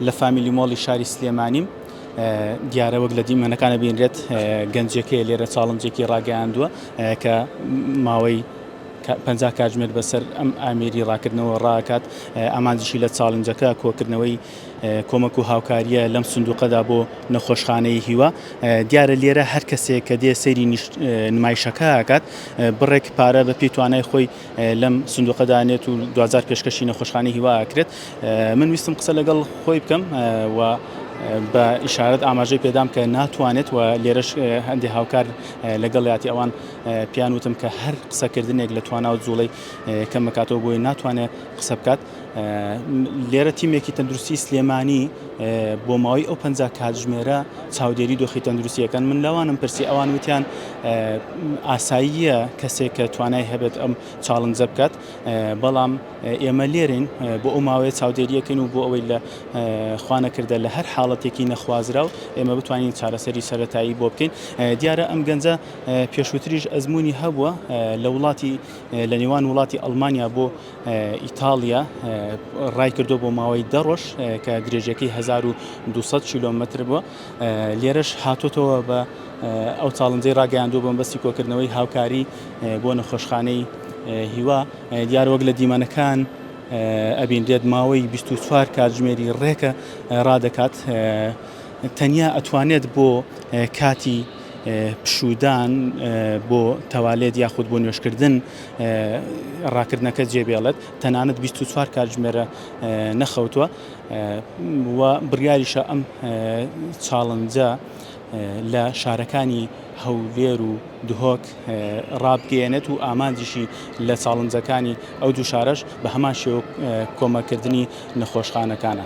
لە فامیلی مۆڵی شاری سلێمانیم، دیارە وەک لە دیمەنەکان دەبینرێت گەنجێکەیە لێرە چاڵنجێکی ڕاگەیاندووە کە ماوەی پەنجا کاتژمێر بەسەر ئەم ئامێری ڕاکردنەوە ڕاکات ئامانجیشی لە چاڵنجەکە کۆکردنەوەی کۆمەک و هاوکاریە لەم سندوقەدا بۆ نەخۆشخانەی هیوا دیارە لێرە هەر کەسێک کە دێ سەیری نمایشەکە کات بڕێک پارە بە پێی توانای خۆی لەم سندوقە دانێت و دوجار پێشکەشی نەخۆشخانەی هیوا ئەکرێت من ویستم قسە لەگەڵ خۆی بکەم و بە ئیشارەت ئاماژەی پێدام کە ناتوانێت و لێرەش هەندێک هاوکار لەگەڵ یاتی ئەوان پیان وتم کە هەر قسەکردنێک لە توانا و جوڵەی کەمەکاتەوە بۆی ناتوانێت قسە بکات لێرە تیمێکی تەندروستی سلێمانی بۆ ماوەی ئەو پ کاتژمێرە چاودێری دۆخی تەندروستیەکەن من لەوانم پرسی ئەوان وتیان ئاساییە کەسێک کە توانای هەبێت ئەم چاڵنجە بکات بەڵام ئێمە لێرین بۆ ئەو ماوەیە چاودێریەکەن و بۆ ئەوەی لە خوانەکردە لە هەر حاڵەتێکی نەخوازرا و ئێمە بتوانین چارەسەری سەتایی بۆ بکەین دیارە ئەم گەنجە پێشووتریش ئەزمموی هەبووە لە وڵاتی لە نێوان وڵاتی ئەلمانیا بۆ ئیتاڵیا ڕایکردووە بۆ ماوەی دە ڕۆژ کە درێژەکەی 1200 کیلۆمەتر بووە لێرەش هاتوتەوە بە ئەو چاڵنجەی ڕاگەیاندوو بۆم بەستی کۆکردنەوەی هاوکاری بۆ نەخۆشخانەی هیوا دیار وەک لە دیمەنەکان ئەبینرێت ماوەی 24 کاتژمێری ڕێکە ڕادەکات تەنیا ئەتوانێت بۆ کاتی پشودان بۆ تەوالێت یاخود بۆ نوێشکردن ڕاکردنەکە جێبێڵێت، تەنانەت بیست و چوار کاتژمێرە نەخەوتووە و بڕیاریشە ئەم چاڵنجە لە شارەکانی هەولێر و دهۆک ڕابگەیەنێت و ئامانجیشی لە چاڵنجەکانی ئەو دوو شارەش بە هەمان شێوە کۆمەکردنی نەخۆشخانەکانە.